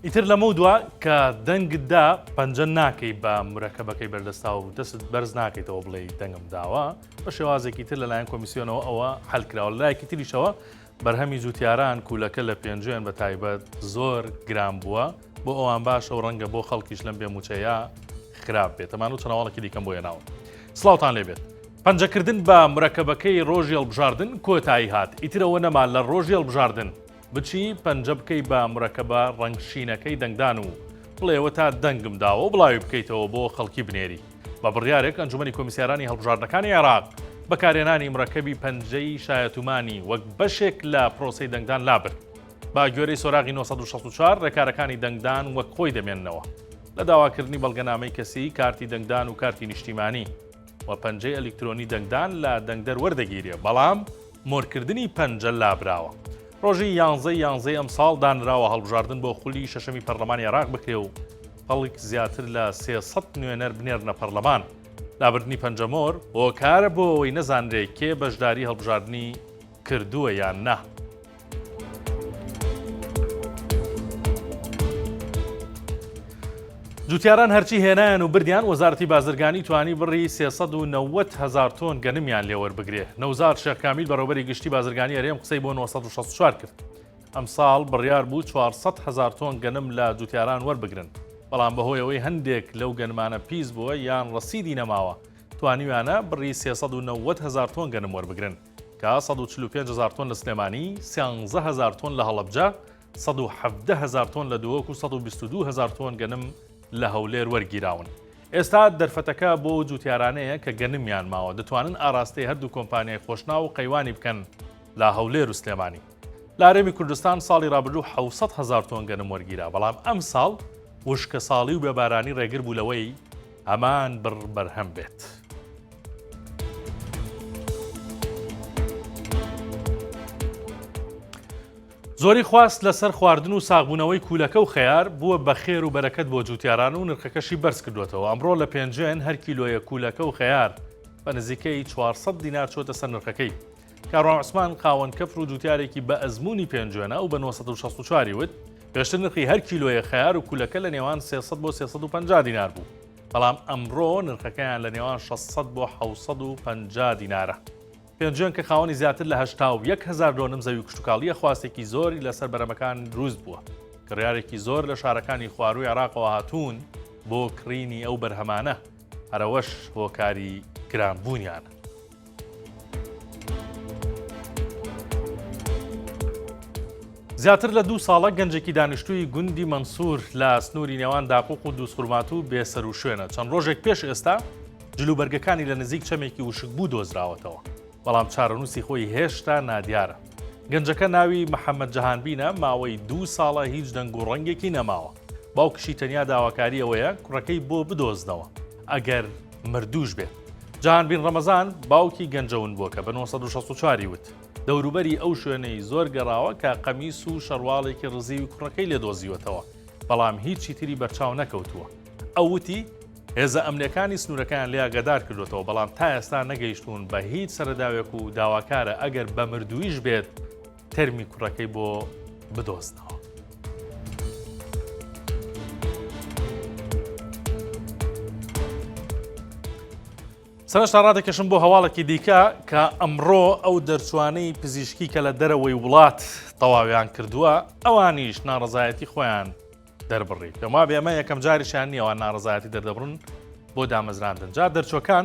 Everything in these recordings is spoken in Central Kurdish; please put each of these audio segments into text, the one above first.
ئیتر لەمە دوا کە دەنگدا پەنجە ناکەی بە مرەکەبەکەی بەردەستا و دەست بەرز ناکەیتەوە بڵێ دەنگم داوە بە شێوازێکی تر لەلایەن کۆمیسیۆنەوە ئەوە حلکراوە لایەکی تریشەوە بەرهەمی جوتیاران کوولەکە لە پێنجوێن بە تایبەت زۆر گران بووە بۆ ئەوان باشە و ڕەنگە بۆ خەڵکیش لەم بێ موچەیە خراپ بێت تەمان و چناوەڵکی دیکەم بۆیە ناوە سلااوان لێبێت پەنجەکردن بە مرەکەبەکەی ڕۆژی هەڵبژاردن کۆتایی هات، ئیتر ئەوە نەما لە ڕۆژی هەڵبژاردن بچی پەنجە بکەی بە مرەکەبە ڕەنگ شینەکەی دەنگدان و بڵێ وەتا دەنگم داوە و بڵاوی بکەیتەوە بۆ خەڵکی بنێری. بە بڕیارێک ئەنجومەنی کۆمیسیارانی هەڵبژاردنەکانی عێراق بەکارهێنانی مرەکەبی پەنجەی شایەتومانی وەک بەشێک لە پرۆسەی دەنگدان لابرد. بە گوێرەی سۆراغی نۆ سەد و شەست و چوار ڕێکارەکانی دەنگدان وەک خۆی دەمێننەوە لە داواکردنی بەڵگەنامەی کەسی، کارتی دەنگدان و کارتی نیشتیمانی. و پەنجەی ئەلیکترۆنی دەنگدان لە دەنگدەر وەردەگیرێ بەڵام مۆرکردنی پەنجە لابراوە. ڕۆژی یانزەی یانزەی ئەمساڵ دانراوە هەڵبژاردن بۆ خولی شەشەمی پەرلەمانی عێراق بکرێ و خەڵک زیاتر لە سێ سەد نوێنەر بنێرنە پەرلەمان. لابردنی پەنجە مۆر هۆکارە بۆ ئەوەی نەزانرێ کێ بەشداری هەڵبژاردنی کردووە یان نا. جوتیاران هەرچی هێنایان و بردیان وەزارتی بازرگانی توانی بڕی 390 هزار تۆن گەنمیان لێوەربگرێ نەوزار شێخکامیل بەڕێوبەری گشتی بازرگانی هەرێم قسەی بۆ 1964 کرد ئەم ساڵ بڕیار بوو 400 هزار تۆن گەنم لە جوتیاران وەربگرن بەڵام بەهۆیەوەی هەندێک لەو گەنمانە پیس بووە یان ڕسیدی نەماوە توانیویانە بڕی 390 هزار تۆن گەنم وەربگرن کە سەد و چل و پێنج هەزار تۆن لە سلێمانی، سیانزە هەزار تۆن لە هەڵەبجە، سەد و حەڤدە هەزار تۆن لە دهۆک و سەد و بیست و دوو هەزار تۆن گەنم لە هەولێر وەرگیراون. ئێستا دەرفەتەکە بۆ ئەو جووتیارانەیە کە گەنمیان ماوە، دەتوانن ئاراستەی هەردوو کۆمپانیای خۆشناو و قەیوانی بکەن لە هەولێر و سلێمانی. لە هەرێمی کوردستان ساڵی رابردوو حەوت سەد هەزار تۆن گەنم وەرگیرا، بەڵام ئەمساڵ وشکەساڵی و بێبارانی رێگر بوو لەوەی هەمان بڕ بەرهەم بێت. زۆری خواست لەسەر خواردن و ساغبوونەوەی کوولەکە و خەیار بووە بە خێر و بەرەکەت بۆ جووتیاران و نرخەکەشی بەرز کردوێتەوە ئەمڕۆ لە پێنجێن هەر کیلۆیە کوولەکە و خەیار بە نزیکەی 400 دینار چۆتە سەر نرخەکەی کاروان عوسمان قاوەن کەفر و جووتارێکی بە ئەزمموی پێنجێنە و بە 1964 وت پێشتر نرخی هەر کیلۆیە خەیار و کوولەکە لە نێوان 300 بۆ 350 دینار بوو. بەڵام ئەمڕۆ نرخەکەیان لە نێوان 600 بۆ 650 دینارە. پێنجۆن کە خاوەنی زیاتر لە هەشتا و یەک هزار دۆنم زەوی کشتتوکاڵیە خواستێکی زۆری لەسەر بەرەمەکان دروست بووە. کڕارێکی زۆر لە شارەکانی خواروی عراقەوە هاتوون بۆ کڕینی ئەو بەرهەمانە هەرەوەش هۆکاری گرانبوونیانە. زیاتر لە دوو ساڵە گەنجێکی دانیشتووی گوندی مەنسوور لە سنووری نێوان داقوق و دووسخورمات و بێسەر و شوێنە چەند ڕۆژێک پێش ئێستا جلوبەرگەکانی لە نزیک چەمێکی وشک بوو دۆزراوەتەوە بەڵام چارەنووسی خۆی هێشتا نادیارە گەنجەکە ناوی محەممەد جەهانبینە ماوەی دوو ساڵە هیچ دەنگ و ڕەنگێکی نەماوە باوکشی تەنیا داواکاری ئەوەیە کوڕەکەی بۆ بدۆزنەوە ئەگەر مردووش بێت. جان بین ڕەمەزان باوکی گەنجە ونبووەکە بە 1964 ی وت، دەوروبەری ئەو شوێنەی زۆر گەڕاوە کە قەمیس و شەڕواڵێکی ڕزیوی کوڕەکەی لێ دۆزیوەتەوە، بەڵام هیچی تری بەرچاو نەکەوتووە. ئەو وتی، هێزە ئەمنییەکانی سنوورەکەیان لێ ئاگادار کردووەتەوە، بەڵام تا ئێستا نەگەیشتوون بە هیچ سەرەداوێک و داواکارە ئەگەر بە مردوویش بێت، تەرمی کوڕەکەی بۆ بدۆزنەوە. سەرشتا ڕادەکەشم بۆ هەواڵێکی دیکە کە ئەمڕۆ ئەو دەرچوانەی پزیشکی کە لە دەرەوەی وڵات تەواویان کردووە ئەوانیش ناڕزایەتی خۆیان دەربڕی پێما بێمە یەکەم جاریشان نیەوە ناڕزایەتی دەردەبڕن بۆ دامەزراندن جا دەرچوەکان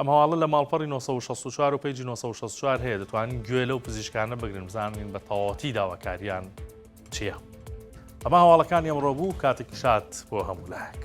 ئەم هەواڵە لە ماڵپەڕی نۆ سەد و شەست و چوار و پەیجی نۆ سەد و شەست و چوار هەیە دەتوانن گوێ لەو پزیشکانە بگرن بزانین بە تەواوەتی داواکاریان چییە. ئەمە هەواڵەکانی ئەمڕۆ بوو کاتێکی شاد بۆ هەموو لایەک.